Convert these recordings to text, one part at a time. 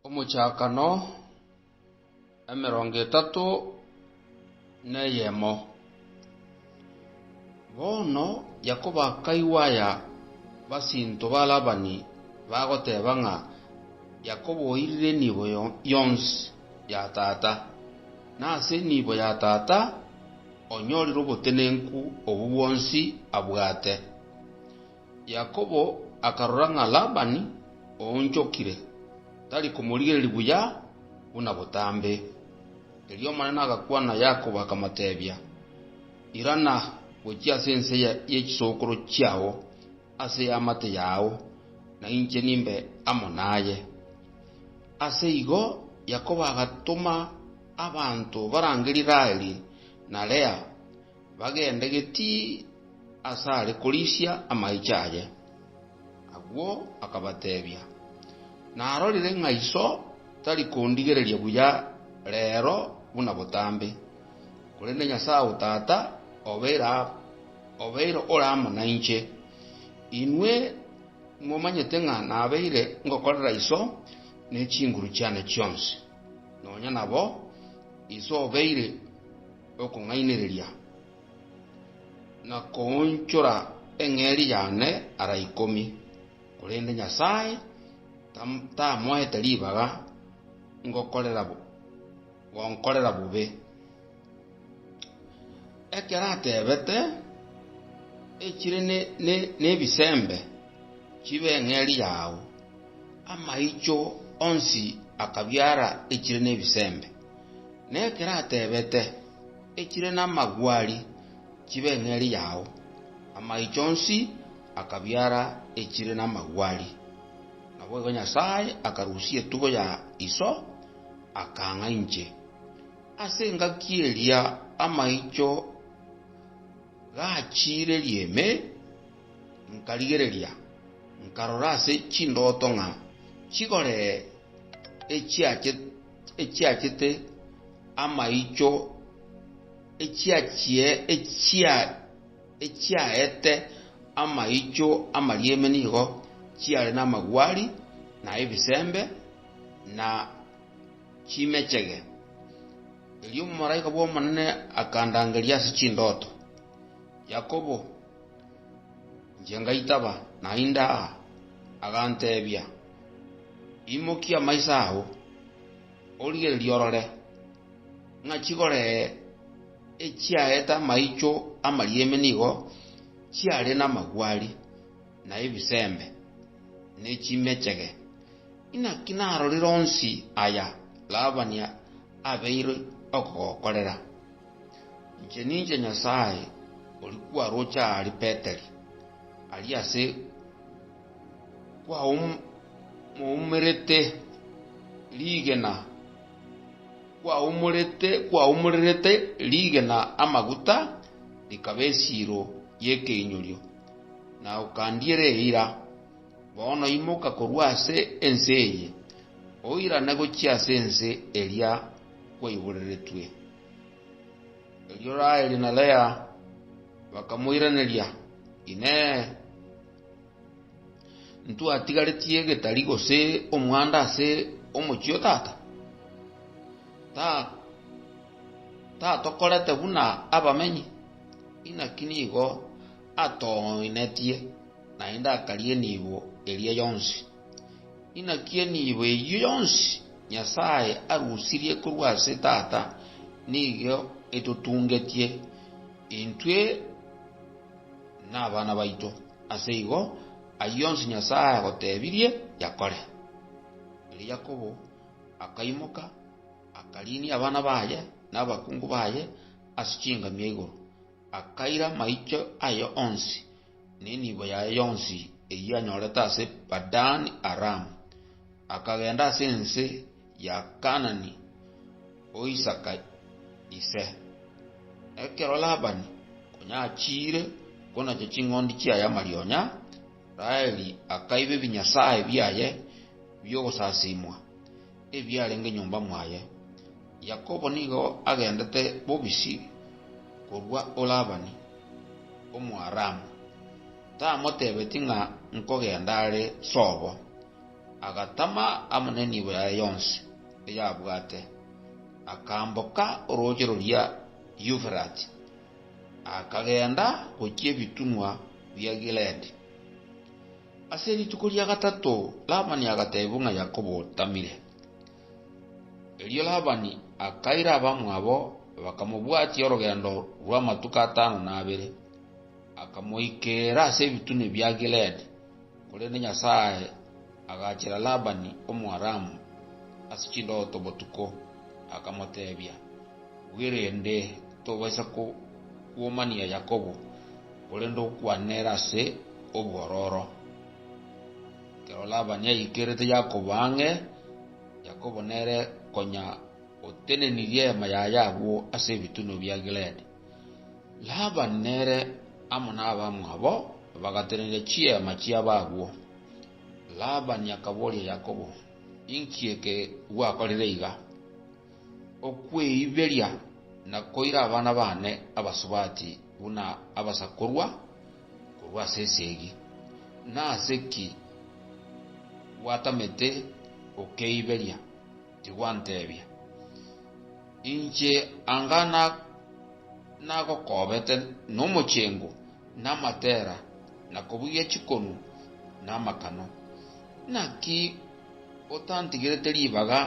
Omochakano emerongo etato neyemo. Bono Yakobo akaigwa aya basinto ba Labani bagoteba ng'a Yakobo oirire enibo yonsi ya tata, na ase enibo ya tata onyorire obotenenku obwo bwonsi abwate. Yakobo akarora ng'a Labani oonchokire, tari komorigereria buya buna botambe. Erio Omonene agakwana Yakobo, akamoteebia, Irana gochia ase ense ye chisokoro chiao, ase y'amate yao, na inche nimbe amo naye. Ase igo Yakobo agatoma abanto barangerie Raheli na Lea. Bagende geti asare korisia amaicho aye. Agwo akabatebia, Narorire ng'a Iso tari kondigereria buya reero buna botambe, korende Nyasae o tata obeire ore amo nainche. Inwe momanyete ng'a nabeire ngokorera Iso ne chinguru chiane chionsi, nonya nabo Iso obeire. okong'ainereria, na koonchora eng'eria yane ara ikomi, korende Nyasae tamoete ribaga gonkorera bobe. Ekero atebete, Echire nebisembe chibe eng'eria yao, amaicho onsi akabiara echire nebisembe. nekero atebete, Echire namagwari chibe eng'eri yao. Amaicho onsi akabiara echire namagwari. Naboigo Nyasae akarusia etugo ya iso, akaang'a inche. Ase engaki eria amaicho gachiireria ime, nkarigereria, nkarora ase chindoto ng'a chigoree echiache. echiachete amaicho, echiachie echia echiaete amaicho amarieme nigo chiare namagwari, na ebisembe, na chimechege. Erio omomalaika bw'Omonene akandangeria ase chindoto, Yakobo! Inche ngaitaba, naende aa. Aganteebia, Imokia amaiso ao, origererie orore, ng'a chigore echiaete amaicho amarieme nigo chiare namagwari, na ebisembe, ne chimechege. Inaki narorire onsi aya Labani abeire okogokorera? Inche ninche Nyasae ori kwaroche aria Beteli, aria ase. kwaumerete rigena, kwaumererete rigena amaguta rikaba esiiro y'ekeinyorio, na okandiera eira. Bono imoka korwa ase ense eye, oirane gochia ase ense eria kwaiboreretwe. Erio Raheli na Lea bakamoiraneria, Inee! Ntwatigaretie getari gose omwando ase omochie o tata? Tatokorete buna abamenyi? Inaki nigo atoinetie, naende akaria enibo eria yonsi. Inaki enibo eyio yonsi Nyasae arusirie korwa ase Tata nigo etotungetie intwe? nabana baito, ase igo ayio onsi Nyasae agotebirie yakore. Erio Yakobo akaimoka, akariinia abana baye na abakungu baye ase chingamia igoro, akaira maicho aye onsi, na enibo yaye yonsi eyio anyorete ase Padani-Aramu, akagenda ase ense ya Kaanani o Isaka ise. Ekero Labani konya achiire konacha ching'ondi chiaye amarionya, Raheli akaiba ebinyasae biaye bi'ogosasimwa, ebiarenge nyomba mwaye. Yakobo nigo agendete bobisi korwa o Labani, Omoaramu, tamotebetie ng'a nkogenda are sobo. agatama amo nenibo yaye yonsi eyabwate, akamboka orooche roria Euferati, akagenda gochia ebitunwa bia Gileadi. Ase rituko ria gatato Labani agateebigwa ng'a Yakobo otamire. Erio Labani akaira abamwabo bakamobwatia orogendo rw'amatuko atano na abere, akamoikeera ase ebitunwa bia Gileadi. Korende Nyasae agaachera Labani Omoaramu ase chindoto botuko, akamoteebia, Bwerende tobaisa kokuomania Yakobo, korende okwane nere ase obwororo. Ekero Labani aikerete Yakobo ang'e, Yakobo nere konya otenenirie eema yaye agwo ase ebitunwa bia Gileadi. Laban nere amo nabamwabo bagatenena chiema chiabo agwo. Laban akaboria Yakobo, Inki eke gwakorire iga, okweiberia na koira abana baane abasubati buna abasakorwa korwa ase esegi? Nase ki gwatamete gokeiberia? Tigwanteebia, Inche anga nagokoobete nomochengo, na amatera, na kobugia chikonu, na amakano. Naki otantigerete ribaga,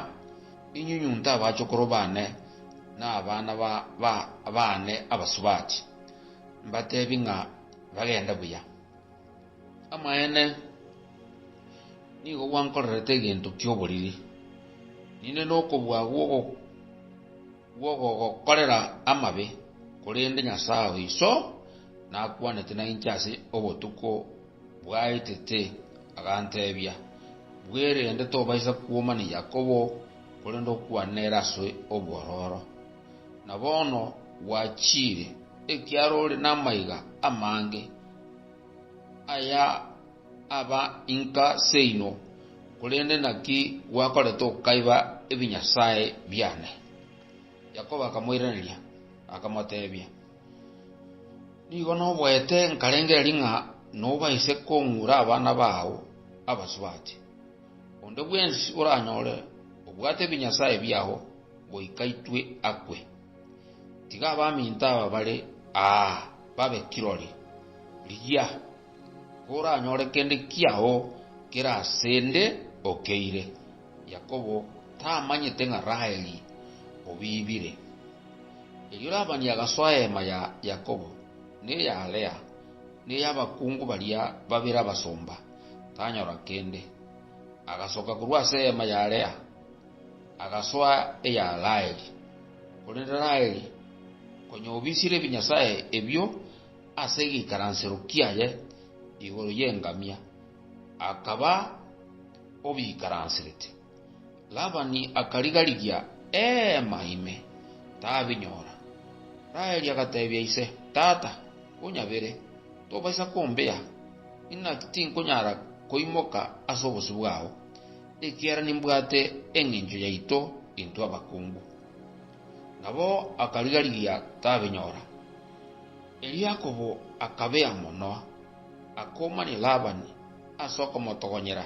inyunyunte abachokoro baane na abana baane abasubati, mbateebie ng'a bagende buya? Amaene, nigo gwankorerete egento ki'oboriri, ninde nokobua gw'ogogokorera amabe, korende Nyasae o iso nakwanete na inche ase obotuko bwaetete, aganteebia, Bwerende tobaisa kwomania Yakobo, korende okwane ere ase obwororo. Na bono gwachiire, ekiagera ore namaiga amange. Aya aba inka seino, korende naki gwakorete okaiba ebinyasae biane? Yakobo akamoiraneria, akamotebia, Nigo noboete nkarengereria ng'a nobaise kong'ura abana bao abasubati. Onde bwensi oranyore obwate ebinyasae biao goika intwe akwe. Tiga abaminto aba bare aa babe kirori. Rigia, koranyore kende kiao kere ase 'nde okeire. Yakobo tamanyete ng'a Raheli obiibire. Erio Labani agasoa eema ya Yakobo, na eya Lea, na ey'abakungu baria babere abasomba, tanyora kende. Agasoka korwa ase eema ya Lea, agasoa eya Raheli. Korende Raheli, konya obisire ebinyasae ebio ase egeikaransero kiaye igoro y'engamia, akaba obiikaransirete. Labani akariga-rigia eema ime, tabinyora. Raheli agateebia ise, Tata, konyabere, tobaisa kombea, inaki tinkonyara koimoka ase obosio bwao. ekiagera nimbwate engencho yaito intwe abakungu. Nabo akariga-rigia tabinyora. Erio Yakobo akabea mono, akoumania Labani ase okomotogonyera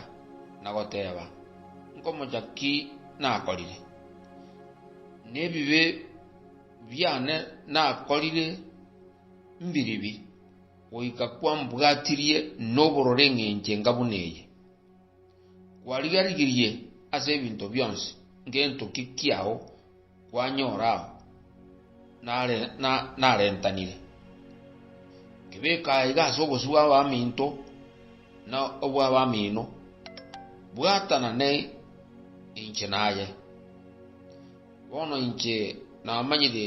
na goteeba, Nkomocha ki nakorire? Nebibe biane nakorire mbiribi, goika kwambwatirie nobororo engencho enga buna eye? Kwariga-rigirie ase ebinto bionsi ngento ki kiao kwanyora ao narentanire. Kebeka aiga ase obosio bw'abaminto na obw'abamino, bwatana ne inche naye. Bono inche namanyire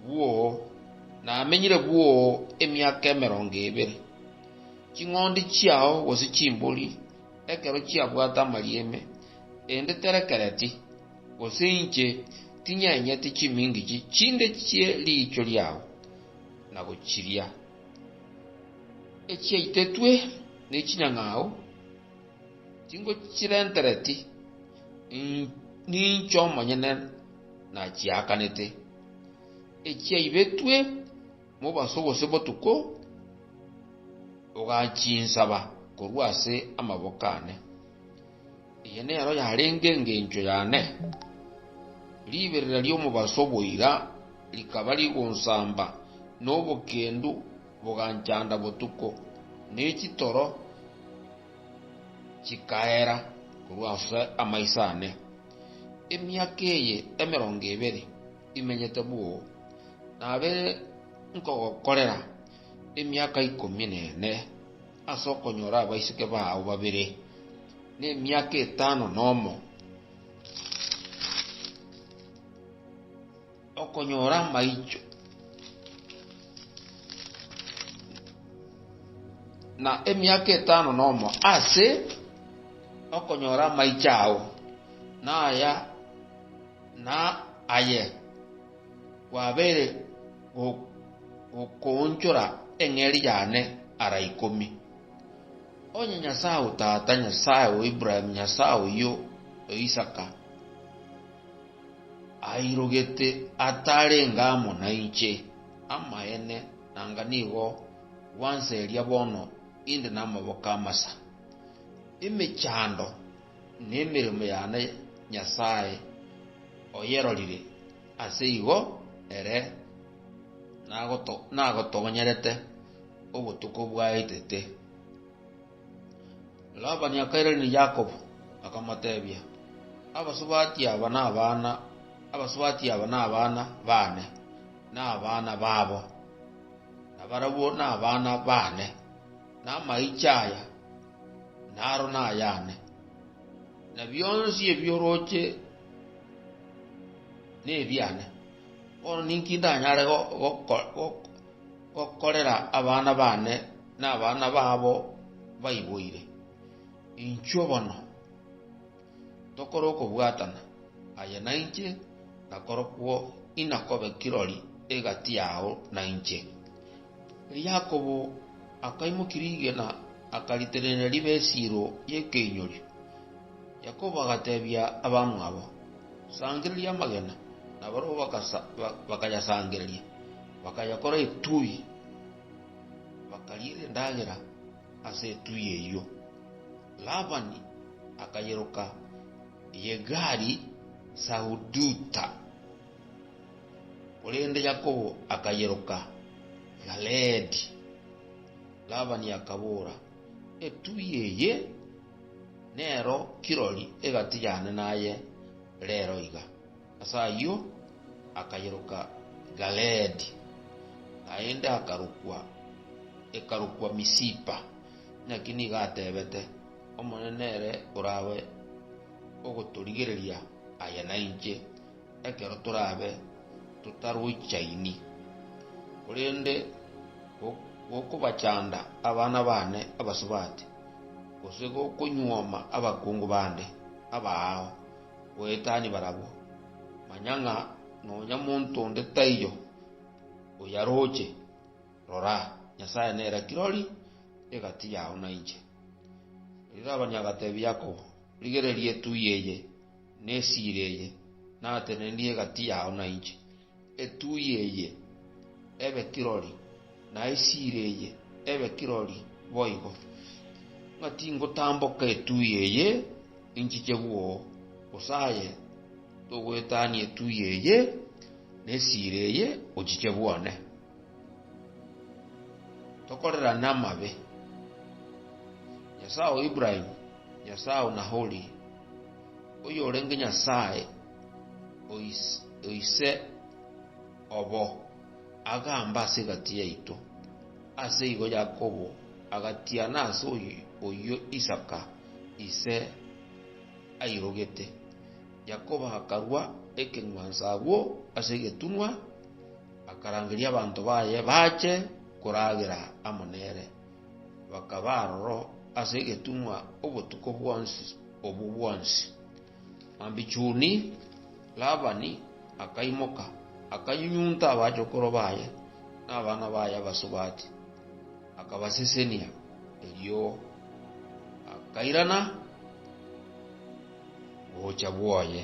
bwoo, namenyire bwoo emiaka emerongo ebere. Ching'ondi chiao gose chimbori ekero chiabwate amarieme, rende terekereti, gose inche tinyenyeti chimingichi chinde chie riicho riao na gochiria, echiaitetwe nechinyang'au. Chingochirentereti, ninche omonyene nachiakanete, echiaibetwe mobaso gose botuko, ogachinsaba korwa ase amaboko aane. Eye nero yarenge engencho yane, riberera ri'omobaso boira rikaba rigonsamba nobokendu. Boganchanda botuko, ne chitoro chikaera korwa ase amaiso aane. Emiaka eye emerongo ebere imenyete bwoo, nabe nkogokorera emiaka ikomi na ene ase okonyora abaiseke bao babere, na emiaka etano nomo. Okonyora amaicho na emiaka etano nomo ase okonyora amaicho ao, na aya na aye gwabeire gokoonchora eng'eria yane ara ikomi. Onye Nyasae o tata, Nyasae o Ibrahimu, Nyasae oyio o Isaka, Airogete atarenge amo nainche. Amaene, nanga nigo gwanseria bono inde namaboko amasa. Emechando na emeremo yane Nyasae oyerorire, ase igo ere nagotogonyerete obotuko bwaetete. Labani akairaneria Yakobo, akamotebia, Abasubati aba nabana abasubati aba nabana baane, na abana babo, na barabwo nabana baane, na amaiche aya naro nayane, na bionsi ebi'oroche nebiane. Bono ninki ndanyare gokorera abana baane na abana babo baiboire. Inchuo bono tokore okobwatana, aye nainche, na korokwo inakobe kirori egati yao nainche. Erio Yakobo akaimokia rigena, akaritenena ribe esiro y'ekeinyorio. Yakobo agatebia abamwabo, Sangereria amagena, na barabwo bakayasangereria. bakayekora etui, bakariera endagera ase etui eyio. Labani akayeroka Yegari-Sahaduta, korende Yakobo akayeroka Galeedi. Labani akabora, Etui eye nero kirori egati yane naye reero iga. Ase ayio akayeroka Galeedi, naende akarokwa, ekarokwa Misipa. Naki nigo atebete, Omonene nere orabe ogotorigereria aye na inche, ekero torabe totaroichaini. Korende gokobachanda abana baane abasubati, gose gokonyuoma abakungu bande abaao, goetania barabwo. Manya ng'a nonya monto onde taiyo oyaroche. Rora, Nyasae nere kirori egati yao na inche. Erio Labani agatebia Yakobo, Rigereria etuya eye, ne esiira eye natenenie egati yao na inche, Etuui eye ebe kirori, na esiira eye ebe kirori boigo, ng'a tingotamboka etuui eye ninchiche bwo, gose aye togoetania etuui eye na esiira eye ochiche bwone, tokorerane amabe, Nyasae o Ibrahimu, Nyasae o Nahori, oyorenge Nyasae o ise obo, agamba ase egati yaito. Ase igo Yakobo agatiana ase oyio Isaka ise airogete. Yakobo akarua ekeng'wanso agwo ase egetunwa, akarangeria abanto baye bache koragera amo nere. Bakaba aroro ase egetunwa obotuko bwonsi obwo bwonsi. Ambichuni, Labani akaimoka, akanyunyunta abachokoro baye na abana baye abasubati, akabasesenia. Erio akairana gocha bwoye.